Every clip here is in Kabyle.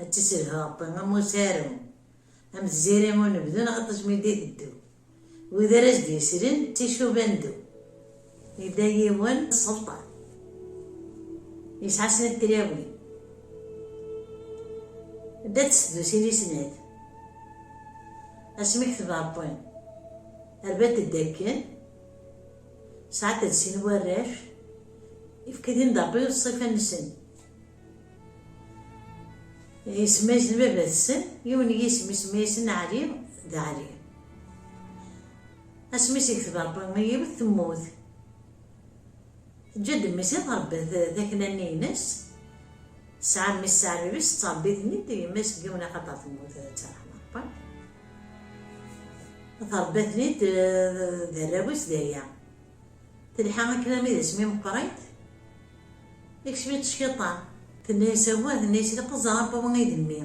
Ad tt-isselhu Ṛebbi am usaru, am tziri n unebdu neɣ iṭij mi d-iteddu. Wid ara s-d-yeslen d ticuba n ddu. Yella yiwen sselṭan, yesɛa snat tlawin. Dda d tsedusin i snat. Asmi kteb Ṛebbi, rban-t-id akken, sɛan-t-id sin warrac, ifka-t-in-d Ṛebbi s ṣṣifa-nsen. D isemma-is n baba-tsen, yiwen n yisem isemma-yas n Ɛli, d Ɛli. Asmi i s-ikteb Rebbi i yiwet temmut, teǧǧa-d mmi-s ad ṛebbet takna-nni-ines, tesɛa mmi-s taɛribt tettṛebbi-ten-id yemma-s deg yiwen axaṭer temmut, d taṛeḥma n Rebbi. Tṛebba-ten-id d arraw-is daya. Telḥa akken armi d asmi meqqrit, ikcem-itt cciṭan, tenna-yas awah, tenna-yas ilaq ad ẓreɣ a baba i d mmi,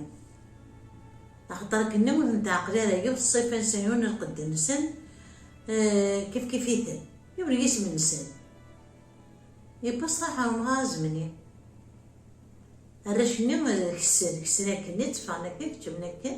axaṭer akken-nni ur ten-teɛqel ara, yiwet ṣṣifa nsen, yiwen n lqedd nsen, kifkif-iten, yiwen n yisem nsen. Yewwa ṣṣraḥ ɣer umɣar azemni. Arrac-nni kessen, kessen akken-nni, tteffɣen akken, keččmen akken,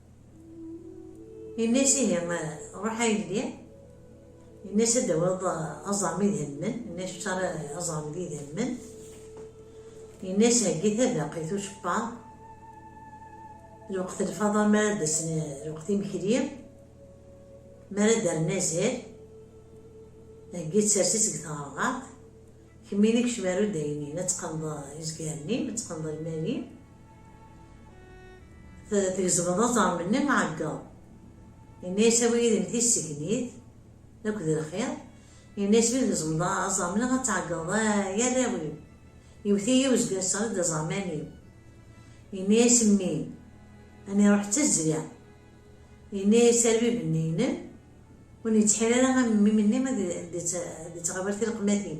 Yenna-as ihi, ruḥ a yelli, yenna-as ad d-tawiḍ aẓar mi d-helmen, yenna-as ur ara aẓar mi d-helmen, yenna-as heggi tabaqit ucebbaḍ, lweqt lfaḍa mi ara d-asen lweqt imekli, mi ara d-rren azal, heggi tsers-itt deg tɣerɣert, kemmini kcem ar udaynin, ad teqqneḍ izgaren-im, ad teqqneḍ lmal-im, Tgezmeḍ aẓar-nni aɛeggeḍ. Yenna-yas awi yid-m tissegnit akked lxir. Yenna-yas mi tgezmeḍ aẓar-nni ad tɛeggeḍ ay arraw-iw. Iwet-iyi wezger sɣel-d aẓarman-iw. Yenna-yas mmi ad niruḥ d tazzla. Yenna-yas arbib-nni-inem ur nettḥir ara am mmi-m-nni ad d-ittɣibar tileqmatin.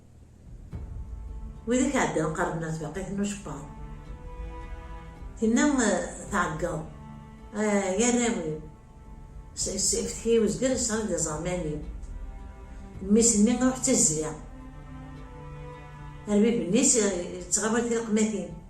Widak iɛeddan qqaren at baqit n ucebbaḍ. Tinna tɛeggeḍ, ay arraw-iw, seftekiy wezger yesɣel-d iẓerman-iw. Mmi-s-nni iruḥ d tizzya, arbib-nni yettɣawal tileqmatin.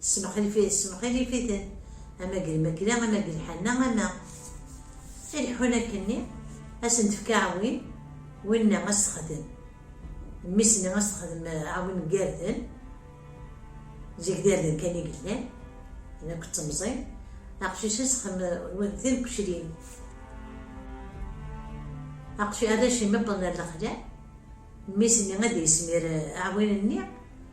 Tessemxilif-iten, ama deg lmakla, ama deg lḥanna, ama i leḥḥun akkenni, ad sen-tefka aɛwin, winna ad s-texdem, mmi-s-nni ad s-texdem aɛwin n irden, zik d irden kan i yellan, d akk d temẓin, aqcic ad s-xdem d tineqcilin, aqcic arrac imeṭṭen ar lexla, mmi-s-nni ad d-yesmir aɛwin-nni,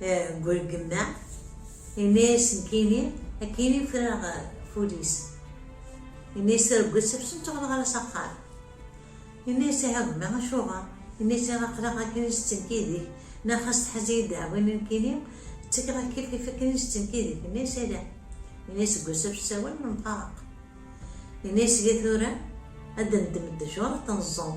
Eh, deg urgem-a, yenna-yasen Kini, akini ffreɣ ful-is. Yenna-yas argel sefsen tuɣleɣ ara s axxam. Yenna-yas ihi gma acuɣer? Yenna-yas ihi aqlaɣ akken i s-ttenkidik, neɣ xas tḥaz-iyi ddeɛwin n Kini, ttakeɣ akifif akken i s-ttenkidik. Yenna-yas ala. Yenna-yas deg usafs sawal nemfaraq. Yenna-yas ihi tura ad d-neddem ddjuṛ ad ten-ẓẓuɣ.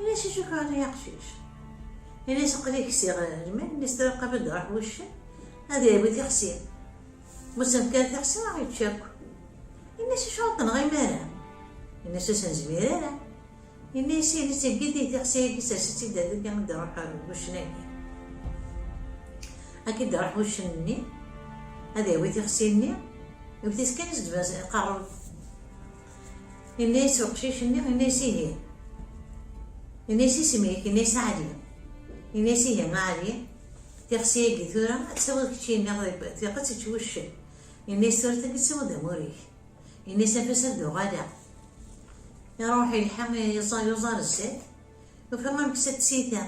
Ini-as acu kra ay aqcic. Ini-as aql-i ksiɣ lmal mi straqab ad iruḥ wuccen ad yerwi tixsi. Ma senfkar tixsi ad yečč akk. Ini-as acu ad tenɣ imara. Ini-as ur s-nezmir ara. Ini-as ini seggi-d tixsi-agi sers-itt-id ad igi ad iruḥ wuccen-agi. Akka ad iruḥ wuccen-nni ad yawi tixsi-nni iwet-it kan s ddbas iqerreb. Yenna-yas uqcic-nni, yenna-yas ihi. Yenna-yas isem-ik, yenna-yas Ɛli. Yenna-yas ihi a Ɛli, tixsi-agi tura ad tt-tawiḍ kečči yenna tiqet ad tečč wuccen. Yenna-yas tura ad k-id-tawiḍ d amur-ik. Yenna-yas anef-as ad d-uɣaleɣ. Iruḥ yelḥa yeẓẓa yuẓar zzat, yufa ameksa d tsita.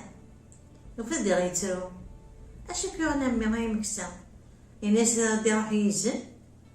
Yufa diɣ yettru. Acu i k-yuɣen a mmi ay ameksa? Yenna-yas ad iruḥ yizen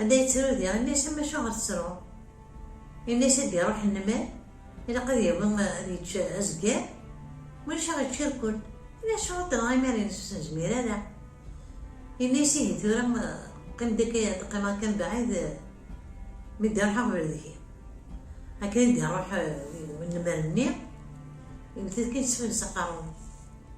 Anda yettru di, ini-as ama acuɣer tettruḍ? Ini-as ad d-iruḥ nnmal, ilaq ad yawi ad yečč azger, ulac aɣ yečč irkul. Ini acuɣer d-nɣa imi ara ines ur s-nezmir ara. Ini-as ihi tura qqim deg ad qqimeɣ kan bɛid mi d-iruḥ aɣbel deg-i. Akken i d-iruḥ nnmal-nni, iwet-it kan s fell s aqerru.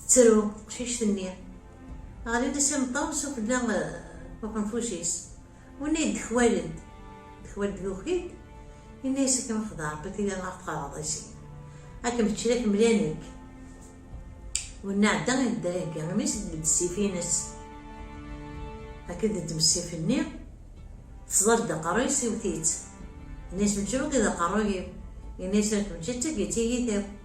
Tettru teqcict-nni. Ɣlin-d s imeṭṭaw s ufella uqenfuc-is. Winna yeddekwayen-d, dekwayen-d yuki-d, yenna-yas akken ruḥ d Rebbi tili ad ɣ-tqerreḍ i sin. Ad kem-ččen ad kem-lin nekk. Winna ɛedda i nedda ihegga imi-s d ssif-ines. Akken teddem ssif-nni, tesḍer-d aqerruy-is iwet-itt. Yenna-yas mečči wagi d aqerruy-iw, yenna-yas ar kem-ččeɣ d tagit i yit-iw.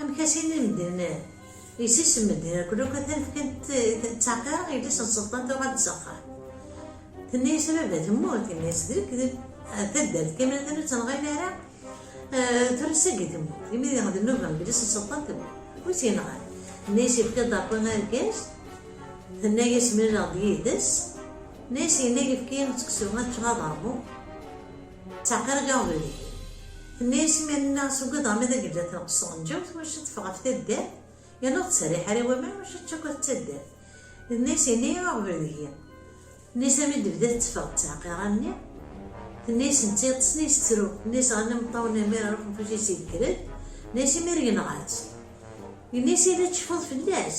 Amek a sin i medden yesisem medden akk luka atan fkant ttaqira yelli-s n Selṭan tuɣal-d s axxam. Tenna-yas a baba temmut, yenna-yas d lekdeb, taddart Kamel atan ur tt-nɣin ara, tura sagi temmut, imi d nnuba n yelli-s n Selṭan temmut, wi tt-yenɣan? Tenna-yas yefka-d Ṛebbi argaz, tenna-yas mlaleɣ-d yid-s, tenna-yas yenna yefka-yi-d seksu ad ččeɣ ad ṛmuɣ, Ttɛeqirgeɣ deg-k. Tenna-yas iman-nneɣ s ugad ɣer ma d agellal tenqes tɣenǧawt ur necci ad teffeɣ ɣef taddart yerna ur ttserriḥ ara i waman ur necci ad tečč akk at taddart. Tenna-yas yenna-yi aɣbel deg-i. Tenna-yas armi d-bdiɣ tteffeɣ d ttɛeqir almi tenna-yas netta yeṭṭeṣen yesttru. Tenna-yas ɣer nna meṭṭawen armi ara ruḥen fell-as yekker-d. Tenna-yas imir yenɣa-tt. Yenna-yas yella tceffuḍ fell-as.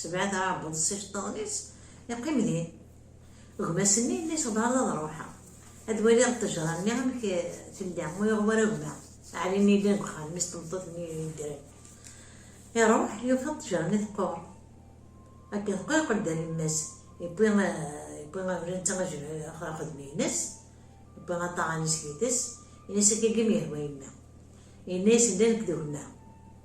Sebɛed aɛebbuḍ s iceṭṭiḍen-is, iqqim din. Gma-s-nni yella yesɣebɛaḍ ad ruḥeɣ, ad waliɣ ṭṭejra-nni amek tella, ur yuɣ wara gma, Ɛli-nni yellan deg uxxam, mmi-s n tmeṭṭut-nni yeddren. Iruḥ, yufa ṭṭejra-nni teqqur. Akken teqqur yeqqel-d ar yemma-s, yewwi abrid netta ɣer uxeddim-ines, yewwi aṭaɣan-is yid-s, yenna-as akka imi yehwa yemma. Yenna-yasen-d a nekk d gma,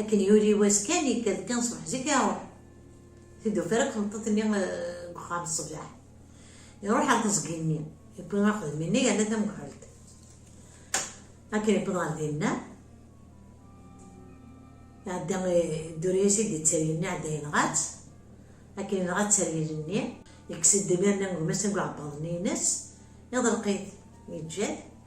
Akken yuli wass kan, yekka-d kan ṣṣbeḥ zik iruḥ. Teddu fara tmeṭṭut-nni deg eh, uxxam ṣṣbeḥ. Iruḥ ɣer teẓgi-nni, yewwi axedmi-nni yerna tamekḥelt. Akken yewweḍ ɣer dinna, iɛedda eh, dduri-as i d-ittaryel-nni, iɛedda yenɣa-tt. Akken yenɣa ttaryel-nni, yekkes-d imir-nni gma-s deg uɛebbaḍ-nni-ines, iḍelq-it, yeǧǧa-t.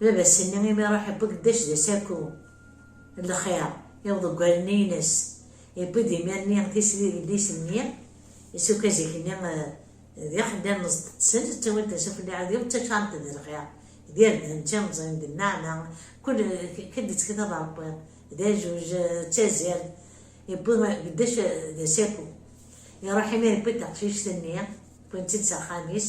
Baba-s-nni imi iruḥ iwwi-d d-ac d asaku n lxir i uḍeggal-nni-ines, iwwi-d imir-nni tisli d idlisen-nni, isuka zik-nni d ixeddam meẓṭeṭsen, ttawen-ten s ufella ɛad iwwi ttaččaren-ten d lxir, d irden, d timẓin, d nneɛma, kul kul d-ttkit ad ṛewwiḍ, d ajuj, d tazzart, iwwi d-ac d asaku. Iruḥ imir iwwi-d taqcict-nni, wwin-tt-id s axxam-is,